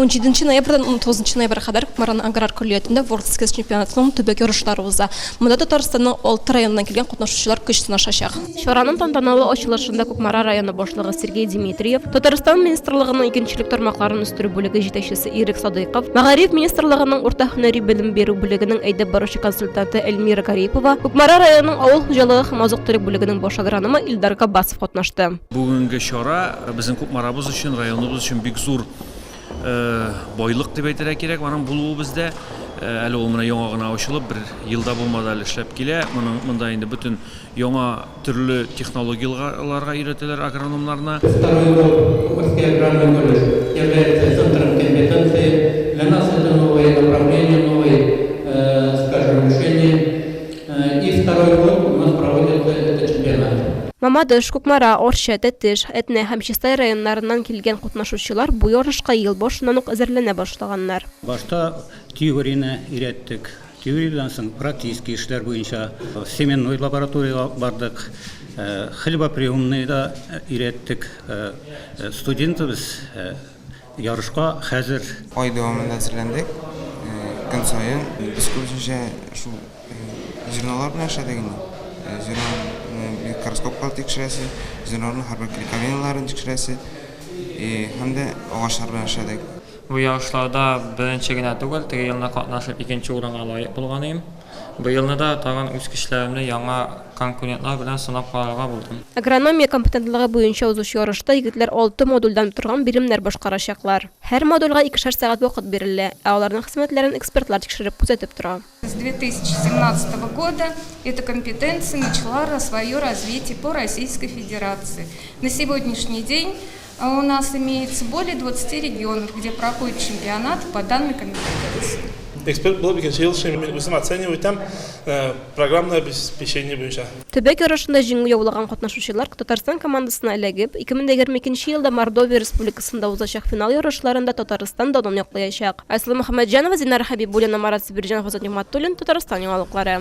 Унҗиденче ноябрьдән унтугызынчы ноябрьгә кадәр Кукмараның аграр көллиятендә World Skills чемпионатының төбәк ярышлары уза. Монда Татарстанның алты районыннан килгән катнашучылар көч сынашачак. Чараның тантаналы ачылышында Кукмара районы башлыгы Сергей Димитриев, Татарстан министрлыгының икенчелек тармакларын үстерү бүлеге җитәкчесе Ирек Садыйков, Мәгариф министрлыгының урта һөнәри белем бирү бүлегенең әйдәп баручы консультанты Эльмира Гарипова, Кукмара районының авыл хуҗалыгы һәм азык-төлек бүлегенең баш агрономы Илдар Габбасов катнашты. Бүгенге чара безнең Кукмарабыз өчен, районыбыз өчен бик зур байлык дип әйтергә кирәк, аның булуы бездә. Әле ул менә яңа гына ачылып, бер ел да булмады әле эшләп килә. Моның монда инде бөтен яңа төрле технологияларга өйрәтәләр агрономнарны. Второй год Кукмарский аграрный колледж является центром компетенции. Для нас это новое направление, новый скажем, решение. И второй год у нас проводится этот чемпионат. Мамадыш, Кукмара, Арча, Тәтеш, Әтнә һәм Чистай районнарыннан килгән катнашучылар бу ярышка ел башыннан ук әзерләнә башлаганнар. Башта теорияне өйрәттек. Теориядән соң практический эшләр буенча семенной лабораториягә алып бардык. Хлебоприемныйда өйрәттек. Студентыбыз, Ярышка хәзер. Ай дәвамында әзерләндек. Көн саен. Без күбесенчә шул журналлар белән эшләдек инде. Журналны микроскопка тикшерәсе, журналның һәрбер клейковиннарын тикшерәсе һәм дә агачлар белән эшләдек. Бу ярышларда беренче генә түгел, теге елны катнашып икенче урынга лаек булган идем. Быелны да тагын үз көчләремне яңа конкурентлар белән сынап карарга булдым. Агрономия компетентлыгы буенча узучы ярышта егетләр алты модульдән торган биремнәр башкарачаклар. Һәр модульгә икешәр сәгать вакыт бирелә, ә аларның хезмәтләрен экспертлар тикшереп, күзәтеп тора. С 2017 года эту компетенцию начала свое развитие по Российской Федерации. На сегодняшний день А у нас имеется более 20 регионов, где проходит чемпионат по данной компетенции. Эксперт булып икенче ел эшлим. Мин үзем оценивать итәм э, программное обеспечение буенча. Төбәк ярышында җиңү яулаган катнашучылар Татарстан командасына эләгеп, 2022 елда Мордовия Республикасында узачак финал ярышларында Татарстан данын яклаячак. Айсылу Мөхәммәтҗанова, Зинара Хәбибуллина, Марат Сибирҗанов, Азат Нигъмәтуллин, Татарстан яңалыклары.